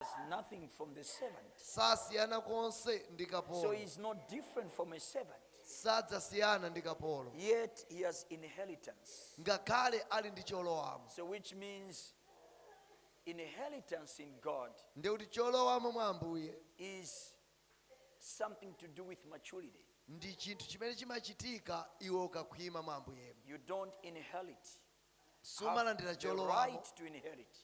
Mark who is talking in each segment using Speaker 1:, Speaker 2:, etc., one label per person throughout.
Speaker 1: differs nothing from the servant. sasiyana konse
Speaker 2: ndi So kapolo he is no different
Speaker 1: from a servant. sadzasiyana
Speaker 2: ndi kapolo Yet he has
Speaker 1: inheritance. ngakhale ali
Speaker 2: ndi cholowamo So which means
Speaker 1: inheritance in God ndiye kuti cholowamo
Speaker 2: mwa ambuye is
Speaker 1: something to do with maturity. ndi chinthu chimene
Speaker 2: chimachitika iwe ukakhwima mwa ambuyemo You don't
Speaker 1: inherit. Have sumalandira
Speaker 2: the cholowamo
Speaker 1: right to inherit.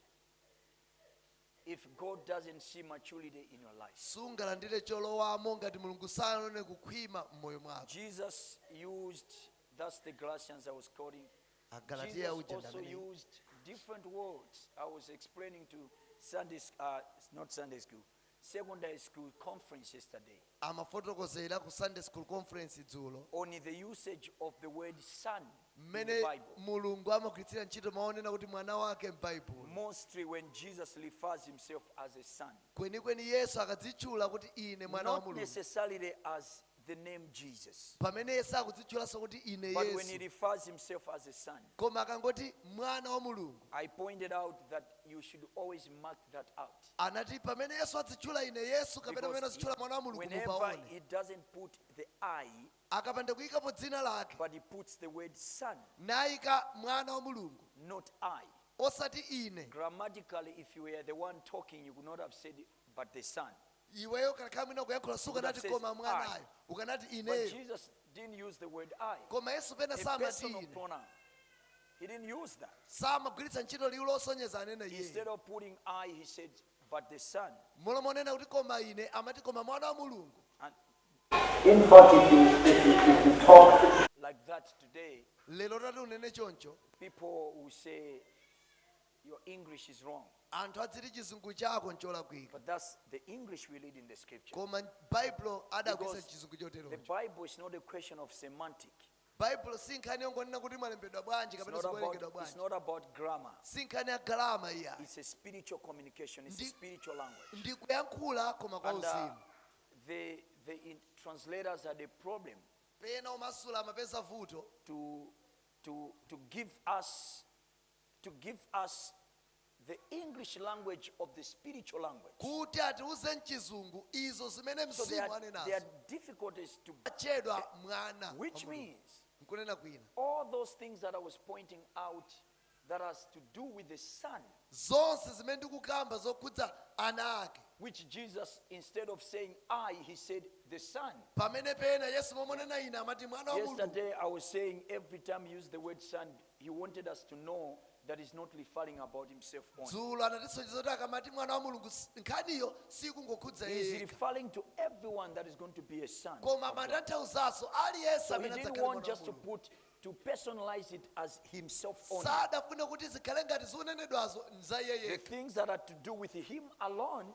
Speaker 1: if God doesn't see maturity in your life. sungalandire
Speaker 2: cholowamo ngati mulungu sanaone kukhwima m'moyo mwako Jesus
Speaker 1: used, that's the Galatians I was quoting. agalatiya Jesus
Speaker 2: uja ndi also amene
Speaker 1: used different words. I was explaining to Sunday, s- uh, not Sunday school, Secondary School Conference yesterday.
Speaker 2: amafotokozera ku Sunday School Conference dzulo. on the usage
Speaker 1: of the word son in the Bible. mmene Mulungu amagwiritsira
Speaker 2: ntchito mawu onena kuti mwana wake m'Baibulo. Mostly
Speaker 1: when Jesus refers himself as a son. Kwenikweni Yesu
Speaker 2: akadzitchula kuti ine mwana wa Mulungu. Not necessarily as
Speaker 1: the name Jesus. pamene iye
Speaker 2: sakudzitchulanso kuti ine But when he yesu
Speaker 1: refers
Speaker 2: himself as
Speaker 1: a son, koma
Speaker 2: akangoti mwana wa mulungu I pointed out
Speaker 1: that you should always mark that out. anati pamene yesu
Speaker 2: adzitchula ine yesu kapena pamene Because adzitchula mwana wa he- mulungu
Speaker 1: whenever
Speaker 2: mupaone he doesn't
Speaker 1: put the I, akapanda
Speaker 2: kuyikapo dzina lake but he puts the
Speaker 1: word son,
Speaker 2: nayika mwana wa mulungu not I.
Speaker 1: osati ine
Speaker 2: Grammatically, if you
Speaker 1: were the one talking, you could not have said But the son. Iweyo
Speaker 2: ukanakhala mwina ukuyankhula sukanati koma
Speaker 1: mwanayo.
Speaker 2: Ukanati ineyo.
Speaker 1: But
Speaker 2: Jesus didn't
Speaker 1: use the word I. Koma Yesu pena samati
Speaker 2: ine. A personal
Speaker 1: pronoun. He didn't use that. Samagwiritsa ntchito liwu
Speaker 2: losonyeza anena iye. Instead of putting
Speaker 1: I, he said, but the son. M'malo monena kuti
Speaker 2: koma ine amati koma mwana wa
Speaker 1: Mulungu.
Speaker 3: In fact, if you, if you, if you talk like that
Speaker 1: today, lero utati unene
Speaker 2: choncho, people will
Speaker 1: say your English is wrong. Anthu adziti
Speaker 2: chizungu chako ncholakwika. But that's
Speaker 1: the English we read in the scripture. Koma
Speaker 2: Baibulo adagwiritsa chizungu choterocho. The
Speaker 1: Bible is
Speaker 2: not a question
Speaker 1: of semantic. Baibulo si
Speaker 2: nkhani yongonena kuti mwalembedwa bwanji kapena
Speaker 1: zikuwerengedwa bwanji.
Speaker 2: It's
Speaker 1: not
Speaker 2: about
Speaker 1: grammar. Si nkhani ya
Speaker 2: grammar iyayi. It's a
Speaker 1: spiritual communication. It's a spiritual language. Ndi
Speaker 2: kuyankhula koma kwa uh, uzimu.
Speaker 1: The the translators had a problem. Pena omasula
Speaker 2: amapeza vuto. To to
Speaker 1: to give us to give us the English language of the spiritual language. kuti
Speaker 2: atiuze mchizungu izo zimene So there mzimu are, there anenazo are
Speaker 1: difficulties
Speaker 2: to,
Speaker 1: atchedwa mwana
Speaker 2: wa which Mulungu. means
Speaker 1: nkunena kwina
Speaker 2: all those things that
Speaker 1: I was pointing out that has to do with the Son, zonse
Speaker 2: zimene ndikukamba zokhudza ana ake which
Speaker 1: Jesus, instead of saying I, he said the Son. pamene pena
Speaker 2: yesu m'malo monena ine amati mwana wa mulungu Yesterday I was saying
Speaker 1: every time you use the word Son, He wanted us to know that he's not referring about himself only. dzulo anatisonyeza
Speaker 2: kuti akamati mwana wa mulungu s- nkhaniyo siikungokhudza He is yeye referring
Speaker 1: to
Speaker 2: everyone
Speaker 1: that is going to be a son. of koma God. amatanthauzanso
Speaker 2: aliyense So he amene didn't adzakhale want mwana wa
Speaker 1: just to mulungu put
Speaker 2: to
Speaker 1: personalize it as himself only. sadafune kuti zikhale
Speaker 2: ngati zikunenedwazo nza yeye The yekha things that
Speaker 1: had to
Speaker 2: do
Speaker 1: with him alone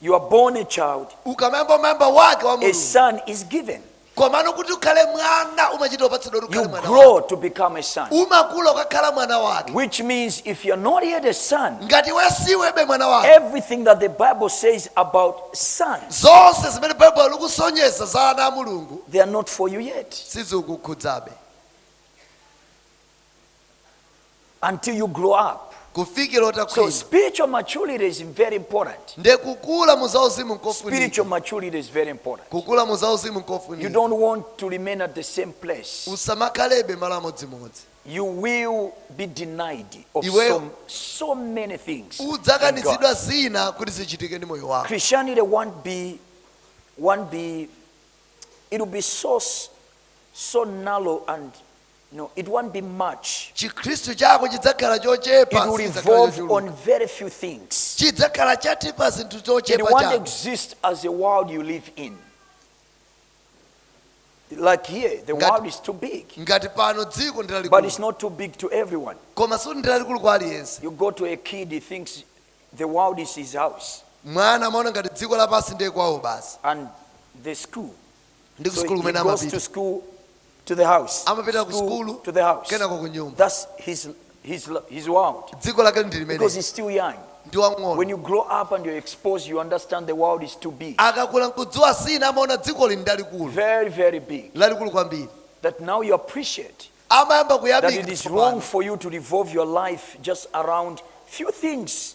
Speaker 1: you are born a child, ukamayamba
Speaker 2: umayamba wake wa a mulungu son is
Speaker 1: given. komano kuti
Speaker 2: ukhale mwana umachita upatsidwa kuti You ukhale mwana wake. grow to become a son, umakula
Speaker 1: ukakhala mwana
Speaker 2: wake which means if you're
Speaker 1: not yet a son, ngati iwe
Speaker 2: sunakhalebe mwana wake everything that the
Speaker 1: Bible says about sons, zonse zimene
Speaker 2: baibulo likusonyeza za ana a mulungu they are not for you
Speaker 1: yet. sizikukhudzabe until you grow up. kufikira So
Speaker 2: utakhwima spiritual maturity
Speaker 1: is very important. nde kukula mu
Speaker 2: zauzimu nkofunika Spiritual maturity is
Speaker 1: very important. kukula mu zauzimu You
Speaker 2: nkofunika don't want to
Speaker 1: remain at the same place. usamakhalebe malo
Speaker 2: amodzimodzi You will
Speaker 1: be denied of Iwe- so, so
Speaker 2: many
Speaker 1: things. in God. udzakanizidwa zina
Speaker 2: kuti zichitike ndi moyo wako Christianity won't be,
Speaker 1: won't be, it will be so, s- so narrow and narrow and it won't be much. chikhristu
Speaker 2: chako chidzakhala It chochepa
Speaker 1: will sichidzakhala revolve
Speaker 2: chochuluka.
Speaker 1: on very
Speaker 2: few
Speaker 1: things. chidzakhala cha
Speaker 2: pa zinthu It zochepa won't chabe
Speaker 1: exist as
Speaker 2: a world
Speaker 1: you live in. Like here, the Ngati- world is too big, ngati pano
Speaker 2: dziko ndi but it's lalikulu not
Speaker 1: too big to everyone. koma sikuti ndi
Speaker 2: lalikulu kwa aliyense You go to
Speaker 1: a
Speaker 2: kid, he
Speaker 1: thinks the world is his house, mwana amaona ngati
Speaker 2: dziko lapansi ndiye kwawo basi and the
Speaker 1: school, ndi ku So he, sukulu
Speaker 2: he kumene goes to
Speaker 1: amapita
Speaker 2: school,
Speaker 1: to the house. Amapita ku School, sukulu,
Speaker 2: to the house. kenako
Speaker 1: ku nyumba. That's his, his, lo- his world. dziko lake ndi Because limene he's
Speaker 2: still young.
Speaker 1: ndi
Speaker 2: When
Speaker 1: wang'ono you
Speaker 2: grow up and
Speaker 1: you're exposed, you understand the world is too big. akakula
Speaker 2: nkudziwa zina amaona dziko ili ndi lalikulu Very, very
Speaker 1: big. lalikulu
Speaker 2: kwambiri That now
Speaker 1: you appreciate amayamba that
Speaker 2: it is wrong
Speaker 1: kuyamika for you to
Speaker 2: revolve
Speaker 1: your life just around few things.